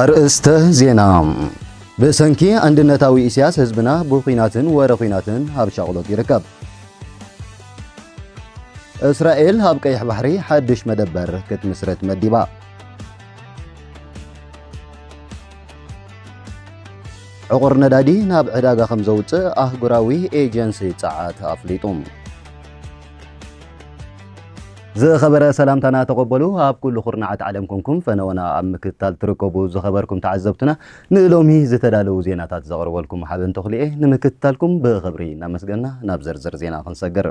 ኣርእስተ ዜና ብሰንኪ ኣንድነታዊ ኢሳያስ ህዝብና ብኹናትን ወረ ኹናትን ኣብ ሻቕሎት ይርከብ። እስራኤል ኣብ ቀይሕ ባሕሪ ሓድሽ መደበር ክትምስረት መዲባ። ዕቑር ነዳዲ ናብ ዕዳጋ ከም ዘውፅእ ኣህጉራዊ ኤጀንሲ ፀዓት ኣፍሊጡ። ዝኸበረ ሰላምታና ተቐበሉ ኣብ ኩሉ ኩርናዓት ዓለም ኮንኩም ፈነወና ኣብ ምክትታል ትርከቡ ዝኸበርኩም ተዓዘብትና ንሎሚ ዝተዳለዉ ዜናታት ዘቕርበልኩም ሓበን ተኽልኤ ንምክትታልኩም ብኽብሪ እናመስገና ናብ ዝርዝር ዜና ክንሰግር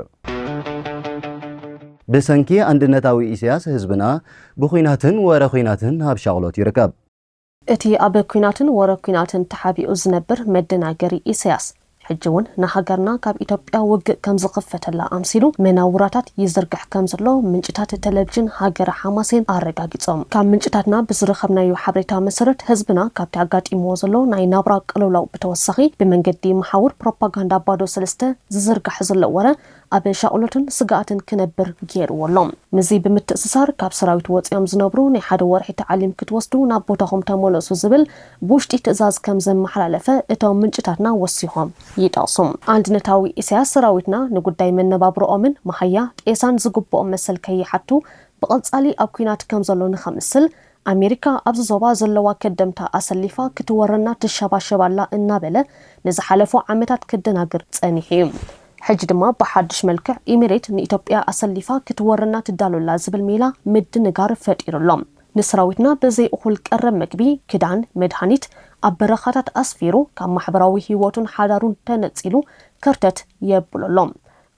ብሰንኪ ኣንድነታዊ ኢሳያስ ህዝብና ብኲናትን ወረ ኲናትን ኣብ ሻቕሎት ይርከብ። እቲ ኣብ ኲናትን ወረ ኲናትን ተሓቢኡ ዝነብር መደናገሪ ኢሰያስ፣ ሕጂ ውን ንሃገርና ካብ ኢትዮጵያ ውግእ ከም ዝኽፈተላ ኣምሲሉ መናውራታት ይዝርግሕ ከም ዘሎ ምንጭታት ተለቪዥን ሃገረ ሓማሴን ኣረጋጊጾም። ካብ ምንጭታትና ብዝረኸብናዮ ሓበሬታ መሰረት፣ ህዝብና ካብቲ ኣጋጢምዎ ዘሎ ናይ ናብራ ቅልውላው ብተወሳኺ ብመንገዲ መሓውር ፕሮፓጋንዳ ባዶ ሰለስተ ዝዝርጋሕ ዘሎ ወረ ኣብ ሻቕሎትን ስግኣትን ክነብር ገይርዎ ኣሎ። ምስዚ ብምትእስሳር፣ ካብ ሰራዊት ወጺኦም ዝነብሩ ናይ ሓደ ወርሒ ታዕሊም ክትወስዱ ናብ ቦታኹም ተመለሱ ዝብል ብውሽጢ ትእዛዝ ከም ዘመሓላለፈ እቶም ምንጭታትና ወሲኾም ይጠቕሱ። ኣንድነታዊ ኢሳያስ ሰራዊትና ንጉዳይ መነባብሮኦምን መሃያ ጤሳን ዝግብኦም መሰል ከይሓቱ ብቐጻሊ ኣብ ኲናት ከም ዘሎ ንኸምስል ኣሜሪካ ኣብዚ ዞባ ዘለዋ ከደምታ ኣሰሊፋ ክትወረና ትሸባሸብ ኣላ እናበለ ንዝሓለፉ ዓመታት ከደናግር ጸኒሑ እዩ። ሕጂ ድማ ብሓድሽ መልክዕ ኢሚሬት ንኢትዮጵያ ኣሰሊፋ ክትወረና ትዳሎ ኣላ ዝብል ሜላ ምድንጋር ፈጢሩ ኣሎ። ንሰራዊትና ብዘይ እኹል ቀረብ መግቢ፣ ክዳን፣ መድሃኒት ኣብ በረኻታት ኣስፊሩ ካብ ማሕበራዊ ህይወቱን ሓዳሩን ተነጺሉ ከርተት የብሎ ኣሎ።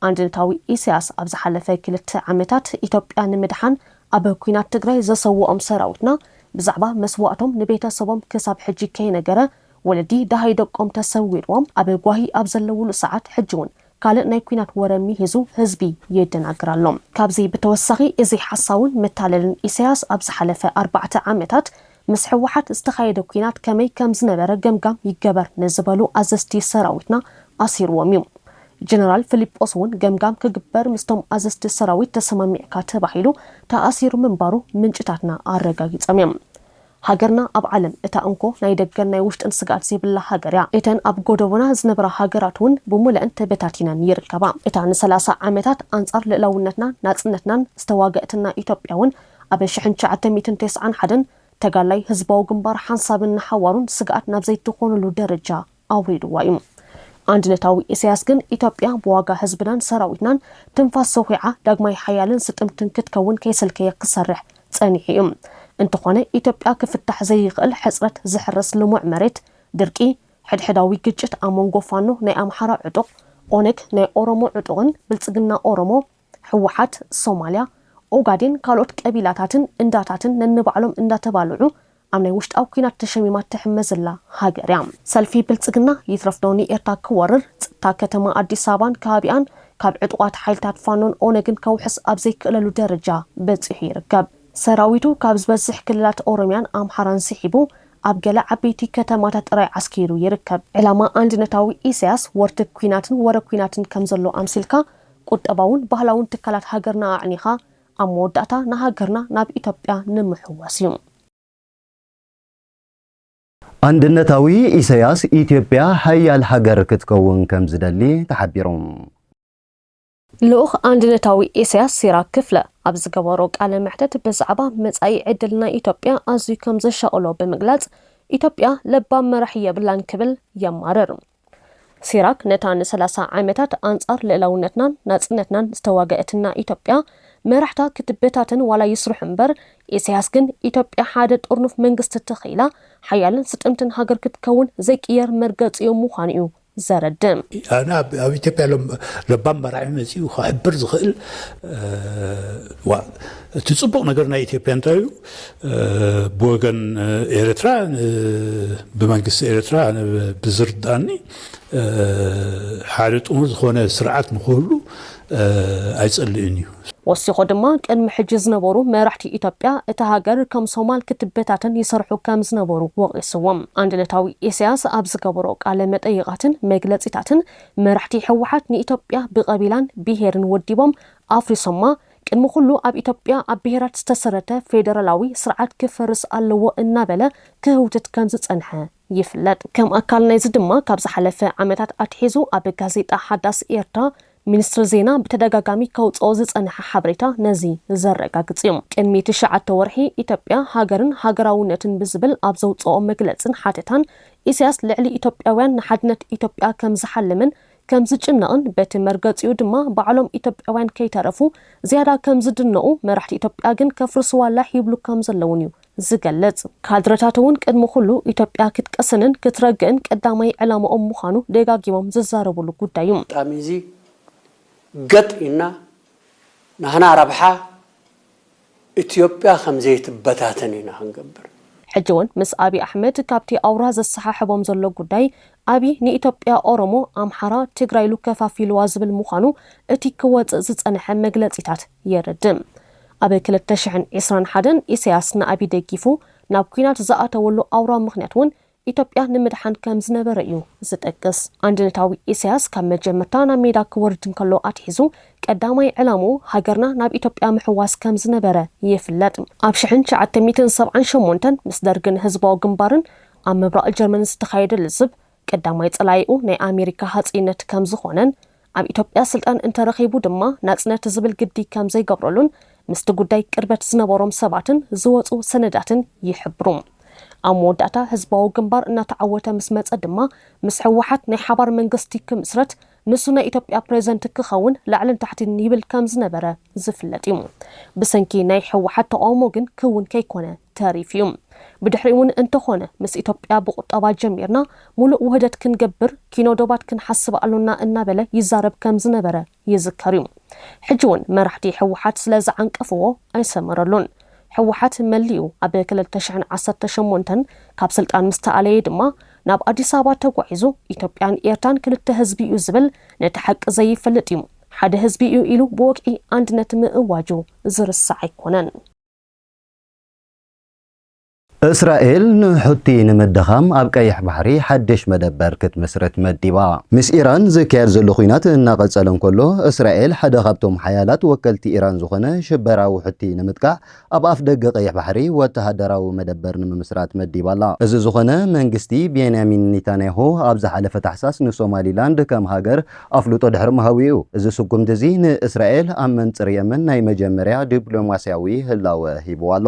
ኣንድነታዊ ኢሳያስ ኣብ ዝሓለፈ ክልተ ዓመታት ኢትዮጵያ ንምድሓን ኣብ ኩናት ትግራይ ዘሰወኦም ሰራዊትና ብዛዕባ መስዋእቶም ንቤተሰቦም ክሳብ ሕጂ ከይነገረ ወለዲ ደሃይ ደቆም ተሰዊርዎም ኣብ ጓሂ ኣብ ዘለውሉ ሰዓት ሕጂ ውን ካልእ ናይ ኩናት ወረ ሚሂዙ ህዝቢ የደናግር ኣሎ። ካብዚ ብተወሳኺ እዚ ሓሳውን መታለልን ኢሳያስ ኣብ ዝሓለፈ ኣርባዕተ ዓመታት ምስ ህወሓት ዝተኻየደ ኲናት ከመይ ከምዝነበረ ገምጋም ይገበር ንዝበሉ ኣዘዝቲ ሰራዊትና ኣሲርዎም እዩ። ጀነራል ፍሊጶስ እውን ገምጋም ክግበር ምስቶም ኣዘዝቲ ሰራዊት ተሰማሚዕካ ተባሂሉ ተኣሲሩ ምንባሩ ምንጭታትና ኣረጋጊፀም እዮም። ሃገርና ኣብ ዓለም እታ እንኮ ናይ ደገን ናይ ውሽጥን ስግኣት ዘይብላ ሃገር እያ። እተን ኣብ ጎደቦና ዝነበራ ሃገራት እውን ብሙለእን ተበታቲነን ይርከባ። እታ ንሰላሳ ዓመታት ኣንፃር ልእላውነትናን ናፅነትናን ዝተዋገእትና ኢትዮጵያ እውን ኣብ ሽሕን ትሽዓተ ሚእትን ተስዓን ሓደን ተጋላይ ህዝባዊ ግንባር ሓንሳብን ንሓዋሩን ስግኣት ናብ ዘይትኾነሉ ደረጃ ኣውሪድዋ እዩ። ኣንድነታዊ ኢሳያስ ግን ኢትዮጵያ ብዋጋ ህዝብናን ሰራዊትናን ትንፋስ ሰዂዓ ዳግማይ ሓያልን ስጥምትን ክትከውን ከይሰልከየ ክሰርሕ ጸኒሑ እዩ። እንተኾነ ኢትዮጵያ ክፍታሕ ዘይኽእል ሕጽረት ዝሕረስ ልሙዕ መሬት፣ ድርቂ፣ ሕድሕዳዊ ግጭት ኣብ መንጎ ፋኖ ናይ ኣምሓራ ዕጡቕ፣ ኦነግ ናይ ኦሮሞ ዕጡቕን ብልጽግና ኦሮሞ፣ ህወሓት ሶማልያ፣ ኦጋዴን ካልኦት ቀቢላታትን እንዳታትን ነንባዕሎም እንዳተባልዑ ኣብ ናይ ውሽጣዊ ኲናት ተሸሚማ ትሕመ ዘላ ሃገር እያ። ሰልፊ ብልፅግና ይትረፍ ዶ ንኤርትራ ክወርር ፅጥታ ከተማ ኣዲስ ኣበባን ከባቢኣን ካብ ዕጡቓት ሓይልታት ፋኖን ኦነግን ከውሕስ ኣብ ዘይክእለሉ ደረጃ በፂሑ ይርከብ። ሰራዊቱ ካብ ዝበዝሕ ክልላት ኦሮሚያን ኣምሓራን ስሒቡ ኣብ ገለ ዓበይቲ ከተማታት ጥራይ ዓስኪሩ ይርከብ። ዕላማ ኣንድነታዊ ኢሳያስ ወርትግ ኲናትን ወረ ኲናትን ከምዘሎ ኣምሲልካ ቁጠባውን ባህላውን ትካላት ሃገርና ኣዕኒኻ ኣብ መወዳእታ ንሃገርና ናብ ኢትዮጵያ ንምሕዋስ እዩ። ኣንድነታዊ ኢሰያስ ኢትዮጵያ ሓያል ሃገር ክትከውን ከም ዝደሊ ተሓቢሩ። ልኡኽ ኣንድነታዊ ኢሰያስ ሲራክ ክፍለ ኣብ ዝገበሮ ቃለ መሕተት ብዛዕባ መጻኢ ዕድል ናይ ኢትዮጵያ ኣዝዩ ከም ዘሻቕሎ ብምግላጽ ኢትዮጵያ ለባም መራሒ የብላን ክብል የማርር። ሲራክ ነታ ንሰላሳ ዓመታት ኣንጻር ልእላውነትናን ናጽነትናን ዝተዋገእትና ኢትዮጵያ መራሕታ ክትበታተን ዋላ ይስርሑ እምበር ኢሰያስ ግን ኢትዮጵያ ሓደ ጥርኑፍ መንግስቲ ተኺኢላ ሓያልን ስጥምትን ሃገር ክትከውን ዘይቅየር መርገጺኡ ምዃኑ'ዩ ዘረድእ። ኣነ ኣብ ኣብ ኢትዮጵያ ለባም መራሒ መጺኡ ክሕብር ዝኽእል እቲ ጽቡቕ ነገር ናይ ኢትዮጵያ እንታይ እዩ ብወገን ኤርትራ ብመንግስቲ ኤርትራ ብዝርዳኒ ሓደ ጥሙር ዝኾነ ስርዓት ንክህሉ ኣይጸልእን እዩ። ወሲኾ ድማ ቅድሚ ሕጂ ዝነበሩ መራሕቲ ኢትዮጵያ እታ ሃገር ከም ሶማል ክትበታተን ይሰርሑ ከም ዝነበሩ ወቒስዎም። ኣንድነታዊ ኢሳያስ ኣብ ዝገበሮ ቃለ መጠይቓትን መግለጺታትን መራሕቲ ህወሓት ንኢትዮጵያ ብቐቢላን ብሄርን ወዲቦም ኣፍሪሶማ ቅድሚ ኩሉ ኣብ ኢትዮጵያ ኣብ ብሄራት ዝተሰረተ ፌደራላዊ ስርዓት ክፈርስ ኣለዎ እናበለ ክህውትት ከምዝፀንሐ ይፍለጥ። ከም ኣካል ናይዚ ድማ ካብ ዝሓለፈ ዓመታት ኣትሒዙ ኣብ ጋዜጣ ሓዳስ ኤርትራ ሚኒስትሪ ዜና ብተደጋጋሚ ከውፅኦ ዝፀንሐ ሓበሬታ ነዚ ዘረጋግፅ እዩ። ቅድሚ ትሽዓተ ወርሒ ኢትዮጵያ ሃገርን ሃገራውነትን ብዝብል ኣብ ዘውፅኦ መግለፅን ሓተታን ኢሳያስ ልዕሊ ኢትዮጵያውያን ንሓድነት ኢትዮጵያ ከምዝሓልምን ከም ዝጭነቕን በቲ መርገጺኡ ድማ ባዕሎም ኢትዮጵያውያን ከይተረፉ ዝያዳ ከም ዝድነቑ፣ መራሕቲ ኢትዮጵያ ግን ከፍርስዋ ላሕ ይብሉ ከም ዘለዉን እዩ ዝገልጽ። ካድረታት'ውን ቅድሚ ኩሉ ኢትዮጵያ ክትቀስንን ክትረግእን ቀዳማይ ዕላማኦም ምዃኑ ደጋጊሞም ዝዛረቡሉ ጉዳይ እዩ። ኣጋጣሚ'ዚ ገጥ ኢልና ናህና ረብሓ፣ ኢትዮጵያ ከምዘይትበታተን ኢና ክንገብር። ሕጂ ውን ምስ ኣብይ ኣሕመድ ካብቲ ኣውራ ዘሰሓሕቦም ዘሎ ጉዳይ ኣብይ ንኢትዮጵያ ኦሮሞ፣ ኣምሓራ፣ ትግራይ ኢሉ ከፋፊሉዋ ዝብል ምዃኑ እቲ ክወጽእ ዝጸንሐ መግለጺታት የረድእ። ኣብ ክልተ ሽሕን ዕስራን ሓደን ኢሰያስ ንኣብይ ደጊፉ ናብ ኲናት ዝኣተወሉ ኣውራ ምኽንያት ውን ኢትዮጵያ ንምድሓን ከም ዝነበረ እዩ ዝጠቅስ። ኣንድነታዊ ኢሳያስ ካብ መጀመርታ ናብ ሜዳ ክወርድ እንከሎ ኣትሒዙ ቀዳማይ ዕላምኡ ሃገርና ናብ ኢትዮጵያ ምሕዋስ ከም ዝነበረ ይፍለጥ። ኣብ ሽሕን ትሽዓተ ሚእትን ሰብዓን ሸሞንተን ምስ ደርግን ህዝባዊ ግንባርን ኣብ ምብራቕ ጀርመን ዝተኻየደ ልዝብ ቀዳማይ ጸላኢኡ ናይ ኣሜሪካ ሃጸይነት ከም ዝኾነን ኣብ ኢትዮጵያ ስልጣን እንተረኺቡ ድማ ናጽነት ዝብል ግዲ ከም ዘይገብረሉን ምስቲ ጉዳይ ቅርበት ዝነበሮም ሰባትን ዝወጹ ሰነዳትን ይሕብሩ። ኣብ መወዳእታ ህዝባዊ ግንባር እናተዓወተ ምስ መጸ ድማ ምስ ህወሓት ናይ ሓባር መንግስቲ ክምስረት ንሱ ናይ ኢትዮጵያ ፕረዚደንት ክኸውን ላዕልን ታሕትን ይብል ከም ዝነበረ ዝፍለጥ እዩ። ብሰንኪ ናይ ህወሓት ተቓውሞ ግን ክውን ከይኮነ ተሪፉ እዩ። ብድሕሪኡ'ውን እንተኾነ ምስ ኢትዮጵያ ብቑጠባ ጀሚርና ሙሉእ ውህደት ክንገብር ኪኖ ዶባት ክንሓስብ ኣሎና እናበለ ይዛረብ ከም ዝነበረ ይዝከር እዩ። ሕጂ እውን መራሕቲ ህወሓት ስለ ዝዓንቀፍዎ ኣይሰመረሉን። ህወሓት መሊኡ ኣብ ክልተ ሽሕን ዓሰርተ ሸሞንተን ካብ ስልጣን ምስ ተኣለየ ድማ ናብ ኣዲስ ኣበባ ተጓዒዙ ኢትዮጵያን ኤርትራን ክልተ ህዝቢ እዩ ዝብል ነቲ ሓቂ ዘይፈልጥ እዩ። ሓደ ህዝቢ እዩ ኢሉ ብወግዒ ኣንድነት ምእዋጁ ዝርሳዕ ኣይኮነን። እስራኤል ንሑቲ ንምድኻም ኣብ ቀይሕ ባሕሪ ሓድሽ መደበር ክትምስርት መዲባ። ምስ ኢራን ዝካየድ ዘሎ ኲናት እናቐጸለ እንከሎ፣ እስራኤል ሓደ ካብቶም ሓያላት ወከልቲ ኢራን ዝኾነ ሽበራዊ ሑቲ ንምጥቃዕ ኣብ ኣፍደገ ቀይሕ ባሕሪ ወተሃደራዊ መደበር ንምምስራት መዲባ ኣላ። እዚ ዝኾነ፣ መንግስቲ ቤንያሚን ኔታንያሁ ኣብ ዝሓለፈ ታሕሳስ ንሶማሊላንድ ከም ሃገር ኣፍልጦ ድሕሪ ምሃቡ'ዩ። እዚ ስጉምቲ'ዚ ንእስራኤል ኣብ መንጽር የመን ናይ መጀመርያ ዲፕሎማስያዊ ህላወ ሂቡዋ ኣሎ።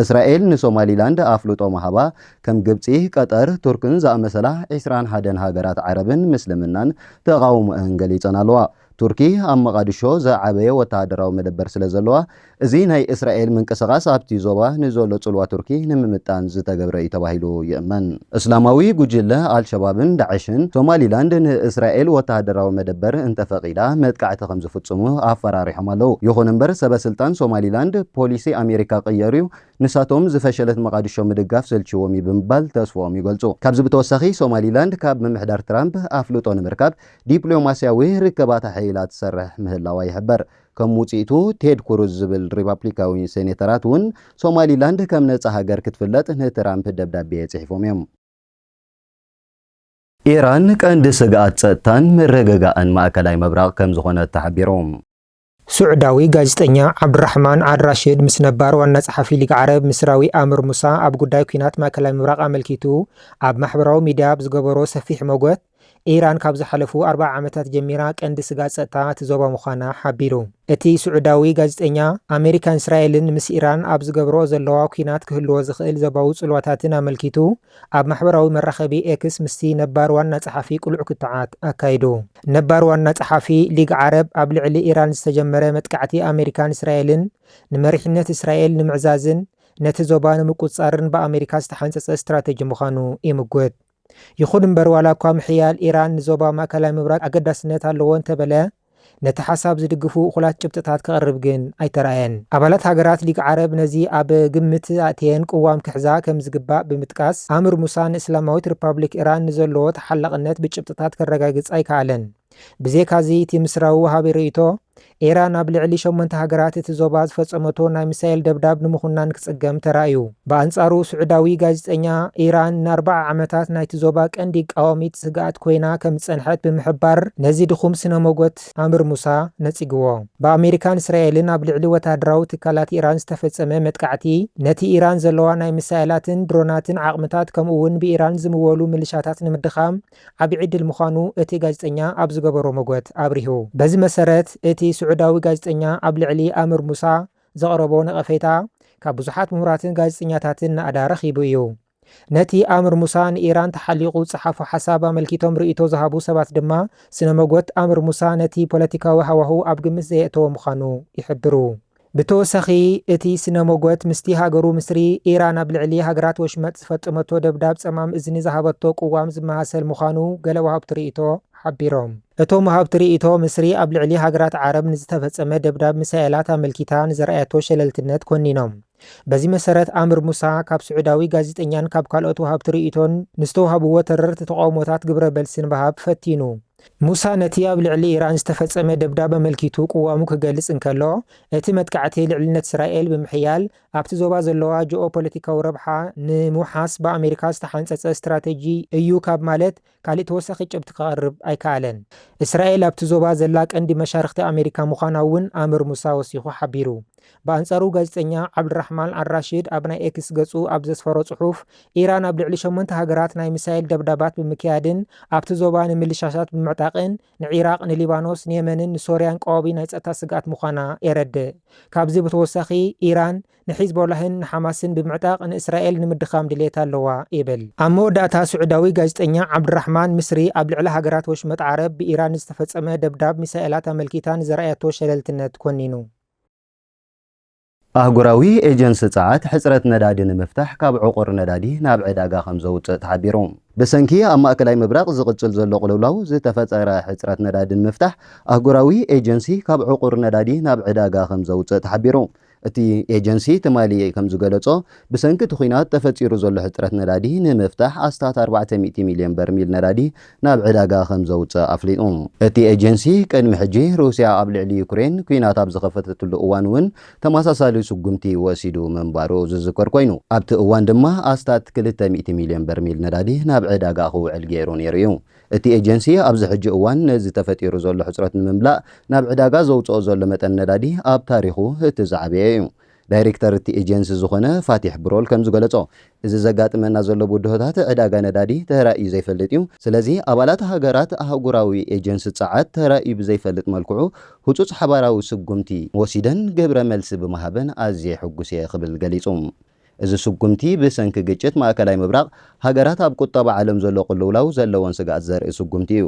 እስራኤል ንሶማሊላንድ ኣፍልጦ ምሃባ፣ ከም ግብጺ፣ ቀጠር፣ ቱርክን ዝኣመሰላ ዕስራን ሓደን ሃገራት ዓረብን ምስልምናን ተቓውሞኣን ገሊጸን ኣለዋ። ቱርኪ ኣብ መቓድሾ ዝዓበየ ወተሃደራዊ መደበር ስለ ዘለዋ፣ እዚ ናይ እስራኤል ምንቅስቓስ ኣብቲ ዞባ ንዘሎ ጽልዋ ቱርኪ ንምምጣን ዝተገብረ እዩ ተባሂሉ ይእመን። እስላማዊ ጉጅለ ኣልሸባብን ዳዕሽን፣ ሶማሊላንድ ንእስራኤል ወተሃደራዊ መደበር እንተፈቒዳ መጥቃዕቲ ከምዝፍጽሙ ኣፈራሪሖም ኣለዉ። ይኹን እምበር ሰበ ስልጣን ሶማሊላንድ፣ ፖሊሲ ኣሜሪካ ቀየሩ'ዩ፣ ንሳቶም ዝፈሸለት መቓድሾ ምድጋፍ ሰልቺዎም'ዩ ብምባል ተስፍኦም ይገልጹ። ካብዚ ብተወሳኺ ሶማሊላንድ ካብ ምምሕዳር ትራምፕ ኣፍልጦ ንምርካብ ዲፕሎማስያዊ ርክባት ኣሐይላ ትሰርሕ ምህላዋ ይሕበር። ከም ውጽኢቱ ቴድ ኩሩዝ ዝብል ሪፓፕሊካዊ ሴኔተራት እውን ሶማሊላንድ ከም ነጻ ሃገር ክትፍለጥ ንትራምፕ ደብዳቤ ጽሒፎም እዮም። ኢራን ቀንዲ ስግኣት ጸጥታን ምርግጋእን ማእከላይ ምብራቕ ከም ዝኾነት ተሓቢሩ። ሱዕዳዊ ጋዜጠኛ ዓብዱራሕማን ኣልራሽድ ምስ ነባር ዋና ጸሓፊ ሊግ ዓረብ ምስራዊ ኣምር ሙሳ ኣብ ጉዳይ ኲናት ማእከላይ ምብራቕ ኣመልኪቱ ኣብ ማሕበራዊ ሚድያ ኣብ ዝገበሮ ሰፊሕ መጎት፣ ኢራን ካብ ዝሓለፉ ኣርብዓ ዓመታት ጀሚራ ቀንዲ ስጋት ጸጥታ እቲ ዞባ ምዃና ሓቢሩ። እቲ ስዑዳዊ ጋዜጠኛ፣ ኣመሪካን እስራኤልን ምስ ኢራን ኣብ ዝገብርኦ ዘለዋ ኲናት ክህልዎ ዝኽእል ዘባዊ ጽልዋታትን ኣመልኪቱ ኣብ ማሕበራዊ መራኸቢ ኤክስ ምስቲ ነባር ዋና ጸሓፊ ቅሉዕ ክትዓት ኣካይዱ። ነባር ዋና ጸሓፊ ሊግ ዓረብ ኣብ ልዕሊ ኢራን ዝተጀመረ መጥቃዕቲ ኣመሪካን እስራኤልን ንመሪሕነት እስራኤል ንምዕዛዝን ነቲ ዞባ ንምቁጽጻርን ብኣመሪካ ዝተሓንጸጸ ስትራተጂ ምዃኑ ይምጉት። ይኹን እምበር ዋላ'ኳ ምሕያል ኢራን ንዞባ ማእከላይ ምብራቕ ኣገዳስነት ኣለዎ እንተበለ፣ ነቲ ሓሳብ ዝድግፉ እኹላት ጭብጥታት ከቕርብ ግን ኣይተራእየን። ኣባላት ሃገራት ሊግ ዓረብ ነዚ ኣብ ግምት ኣእትየን ቅዋም ክሕዛ ከምዝግባእ ብምጥቃስ፣ ኣምር ሙሳ ንእስላማዊት ሪፓብሊክ ኢራን ንዘለዎ ተሓላቕነት ብጭብጥታት ከረጋግጽ ኣይከኣለን። ብዜካዚ እቲ ምስራዊ ወሃቢ ርእይቶ፣ ኢራን ኣብ ልዕሊ ሸሞንተ ሃገራት እቲ ዞባ ዝፈጸመቶ ናይ ሚሳይል ደብዳብ ንምኹናን ክጽገም ተራእዩ። ብኣንጻሩ ስዑዳዊ ጋዜጠኛ፣ ኢራን ንኣርብዓ ዓመታት ናይቲ ዞባ ቀንዲ ቃዋሚት ስግኣት ኮይና ከም ዝጸንሐት ብምሕባር ነዚ ድኹም ስነ-ሞጎት ኣምርሙሳ ነጺግዎ። ብኣመሪካን እስራኤልን ኣብ ልዕሊ ወተሃደራዊ ትካላት ኢራን ዝተፈጸመ መጥቃዕቲ፣ ነቲ ኢራን ዘለዋ ናይ ሚሳይላትን ድሮናትን ዓቕምታት ከምኡ'ውን ብኢራን ዝምወሉ ምልሻታት ንምድኻም፣ ዓቢ ዕድል ምዃኑ እቲ ጋዜጠኛ ኣብ ዝገበሮ መጐት ኣብሪሁ። በዚ መሰረት፣ እቲ ስዑዳዊ ጋዜጠኛ ኣብ ልዕሊ ኣምር ሙሳ ዘቕረቦ ነቐፌታ ካብ ብዙሓት ምሁራትን ጋዜጠኛታትን ናእዳ ረኺቡ እዩ። ነቲ ኣምር ሙሳ ንኢራን ተሓሊቑ ዝጸሓፎ ሓሳብ ኣመልኪቶም ርእይቶ ዝሃቡ ሰባት ድማ፣ ስነ-መጐት ኣምር ሙሳ ነቲ ፖለቲካዊ ሃዋህው ኣብ ግምት ዘየእተወ ምዃኑ ይሕብሩ። ብተወሳኺ እቲ ስነ ሞጎት ምስቲ ሃገሩ ምስሪ ኢራን ኣብ ልዕሊ ሃገራት ወሽመጥ ዝፈፀመቶ ደብዳብ ፀማም እዝኒ ዝሃበቶ ቅዋም ዝመሳሰል ምዃኑ ገለ ወሃብቲ ርእይቶ ሓቢሮም። እቶም ወሃብቲ ርእይቶ ምስሪ ኣብ ልዕሊ ሃገራት ዓረብ ንዝተፈፀመ ደብዳብ ሚሳኤላት ኣመልኪታ ንዘርኣየቶ ሸለልትነት ኮኒኖም። በዚ መሰረት ኣምር ሙሳ ካብ ስዑዳዊ ጋዜጠኛን ካብ ካልኦት ወሃብቲ ርእይቶን ንዝተውሃብዎ ተረርቲ ተቓውሞታት ግብረ በልሲ ንበሃብ ፈቲኑ። ሙሳ ነቲ ኣብ ልዕሊ ኢራን ዝተፈጸመ ደብዳብ ኣመልኪቱ ቅዋሙ ክገልጽ እንከሎ፣ እቲ መጥቃዕቲ ልዕልነት እስራኤል ብምሕያል ኣብቲ ዞባ ዘለዋ ጂኦፖለቲካዊ ረብሓ ንምውሓስ ብኣመሪካ ዝተሓንጸጸ ስትራተጂ እዩ ካብ ማለት ካልእ ተወሳኺ ጭብጢ ከቕርብ ኣይከኣለን። እስራኤል ኣብቲ ዞባ ዘላ ቀንዲ መሻርኽቲ ኣመሪካ ምዃና'ውን ኣምር ሙሳ ወሲኹ ሓቢሩ። ብኣንጻሩ ጋዜጠኛ ዓብድራሕማን ኣልራሺድ ኣብ ናይ ኤክስ ገጹ ኣብ ዘስፈሮ ጽሑፍ፣ ኢራን ኣብ ልዕሊ ሸሞንተ ሃገራት ናይ ሚሳይል ደብዳባት ብምክያድን ኣብቲ ዞባ ንምልሻሳት ብምዕጣቕን ንዒራቕ፣ ንሊባኖስ፣ ንየመንን ንሶርያን ቀዋቢ ናይ ጸጥታ ስግኣት ምዃና የረድእ። ካብዚ ብተወሳኺ ኢራን ንሒዝቦላህን ንሓማስን ብምዕጣቕ ንእስራኤል ንምድኻም ድልየት ኣለዋ ይብል። ኣብ መወዳእታ ስዑዳዊ ጋዜጠኛ ዓብድራሕማን ምስሪ ኣብ ልዕሊ ሃገራት ወሽመጥ ዓረብ ብኢራን ንዝተፈጸመ ደብዳብ ሚሳኤላት ኣመልኪታ ንዘርኣየቶ ሸለልትነት ኮኒኑ። ኣህጉራዊ ኤጀንሲ ጸዓት፣ ሕጽረት ነዳዲ ንምፍታሕ ካብ ዕቑር ነዳዲ ናብ ዕዳጋ ከም ዘውጽእ ተሓቢሩ። ብሰንኪ ኣብ ማእከላይ ምብራቕ ዝቕጽል ዘሎ ቅልውላው ዝተፈጠረ ሕጽረት ነዳዲ ንምፍታሕ፣ ኣህጉራዊ ኤጀንሲ ካብ ዕቑር ነዳዲ ናብ ዕዳጋ ከም ዘውጽእ ተሓቢሩ። እቲ ኤጀንሲ ትማሊ ከም ዝገለጾ፣ ብሰንኪ እቲ ኲናት ተፈጢሩ ዘሎ ሕጽረት ነዳዲ ንምፍታሕ ኣስታት ኣርባዕተ ሚእቲ ሚልዮን በርሚል ነዳዲ ናብ ዕዳጋ ከም ዘውጽእ ኣፍሊጡ። እቲ ኤጀንሲ፣ ቅድሚ ሕጂ ሩስያ ኣብ ልዕሊ ዩክሬን ኲናት ኣብ ዝኸፈተትሉ እዋን'ውን ተመሳሳሊ ስጉምቲ ወሲዱ ምንባሩ ዝዝከር ኰይኑ፣ ኣብቲ እዋን ድማ ኣስታት ክልተ ሚእቲ ሚልዮን በርሚል ነዳዲ ናብ ዕዳጋ ክውዕል ገይሩ ነይሩ'ዩ። እቲ ኤጀንሲ፣ ኣብዚ ሕጂ እዋን ነዚ ተፈጢሩ ዘሎ ሕጽረት ንምምላእ ናብ ዕዳጋ ዘውጽኦ ዘሎ መጠን ነዳዲ ኣብ ታሪኹ እቲ ዝዓበየ'ዩ። ዳይሬክተር እቲ ኤጀንሲ ዝኾነ ፋቲሕ ብሮል ከምዝገለፆ፣ እዚ ዘጋጥመና ዘሎ ብድሆታት ዕዳጋ ነዳዲ ተራእዩ ዘይፈልጥ እዩ። ስለዚ ኣባላት ሃገራት ኣህጉራዊ ኤጀንሲ ፀዓት ተራእዩ ብዘይፈልጥ መልክዑ ህፁፅ ሓባራዊ ስጉምቲ ወሲደን ግብረ መልሲ ብምሃበን ኣዝየ ሕጉስ እየ ክብል ገሊፁ። እዚ ስጉምቲ ብሰንኪ ግጭት ማእከላይ ምብራቕ ሃገራት ኣብ ቁጠባ ዓለም ዘሎ ቅልውላው ዘለወን ስግኣት ዘርኢ ስጉምቲ እዩ።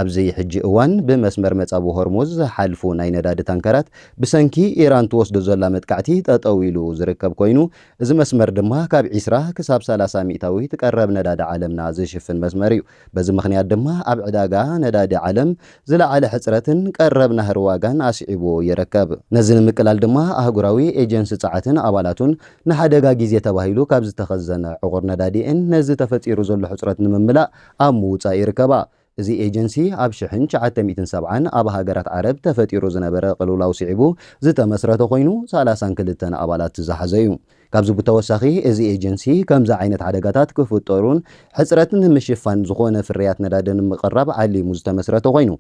ኣብዚ ሕጂ እዋን ብመስመር መጻብቦ ሆርሙዝ ዝሓልፉ ናይ ነዳዲ ታንከራት ብሰንኪ ኢራን ትወስዶ ዘላ መጥቃዕቲ ጠጠው ኢሉ ዝርከብ ኮይኑ፣ እዚ መስመር ድማ ካብ ዕስራ ክሳብ ሰላሳ ሚእታዊት ቀረብ ነዳዲ ዓለምና ዝሽፍን መስመር እዩ። በዚ ምኽንያት ድማ ኣብ ዕዳጋ ነዳዲ ዓለም ዝለዓለ ሕጽረትን ቀረብ ናህሪ ዋጋን ኣስዒቡ ይርከብ። ነዚ ንምቅላል ድማ ኣህጉራዊ ኤጀንሲ ጸዓትን ኣባላቱን ንሓደጋ ግዜ ተባሂሉ ካብ ዝተኸዘነ ዕቑር ነዳዲ'የን ነዚ ተፈጢሩ ዘሎ ሕጽረት ንምምላእ ኣብ ምውጻእ ይርከባ። እዚ ኤጀንሲ ኣብ ሽሕን ትሽዓተ ሚእትን ሰብዓን ኣብ ሃገራት ዓረብ ተፈጢሩ ዝነበረ ቅልውላው ስዒቡ ዝተመስረተ ኮይኑ ሰላሳን ክልተን ኣባላት ዝሓዘ'ዩ። ካብዚ ብተወሳኺ እዚ ኤጀንሲ ከምዚ ዓይነት ሓደጋታት ክፍጠሩን ሕጽረት ንምሽፋን ዝኾነ ፍርያት ነዳዲ ንምቕራብ ዓሊሙ ዝተመስረተ ኮይኑ፣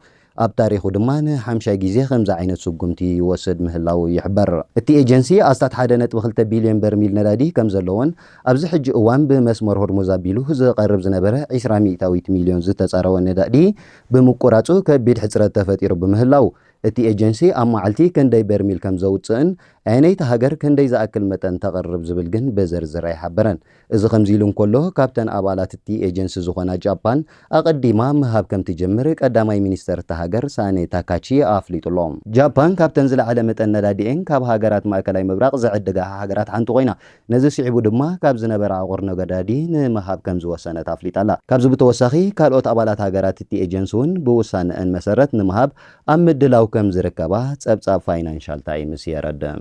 ኣብ ታሪኹ ድማ ንሓምሻይ ግዜ ከምዚ ዓይነት ስጉምቲ ይወስድ ምህላዉ ይሕበር። እቲ ኤጀንሲ ኣስታት ሓደ ነጥቢ ክልተ ቢልዮን በርሚል ነዳዲ ከም ዘለዎን ኣብዚ ሕጂ እዋን ብመስመር ሆርሙዝ ኣቢሉ ዝቐርብ ዝነበረ ዕስራ ሚእታዊት ሚልዮን ዝተጻረወ ነዳዲ ብምቁራጹ ከቢድ ሕጽረት ተፈጢሩ ብምህላዉ እቲ ኤጀንሲ ኣብ መዓልቲ ክንደይ በርሚል ከም ዘውጽእን ኣየነይቲ ሃገር ክንደይ ዝኣክል መጠን ተቕርብ ዝብል ግን ብዝርዝር ኣይሓበረን። እዚ ከምዚ'ሉ እንከሎ፣ ካብተን ኣባላት'ቲ ኤጀንሲ ዝኾና ጃፓን ኣቐዲማ ምሃብ ከምትጀምር ቀዳማይ ሚኒስተር'ታ ሃገር ሳኔ ታካቺ ኣፍሊጡ'ሎ። ጃፓን ካብተን ዝለዓለ መጠን ነዳዲ'የን ካብ ሃገራት ማእከላይ ምብራቕ ዝዕድጋ ሃገራት ሓንቲ ኮይና፣ ነዚ ስዒቡ ድማ ካብ ዝነበራ ዕቑር ነዳዲ ንምሃብ ከምዝወሰነት ኣፍሊጣ'ላ። ካብዚ ብተወሳኺ ካልኦት ኣባላት ሃገራት'ቲ ኤጀንሲ'ውን ብውሳነኣን መሰረት ንምሃብ ኣብ ምድላው ከምዝርከባ ጸብጻብ ፋይናንሻል ታይምስ የረድእ።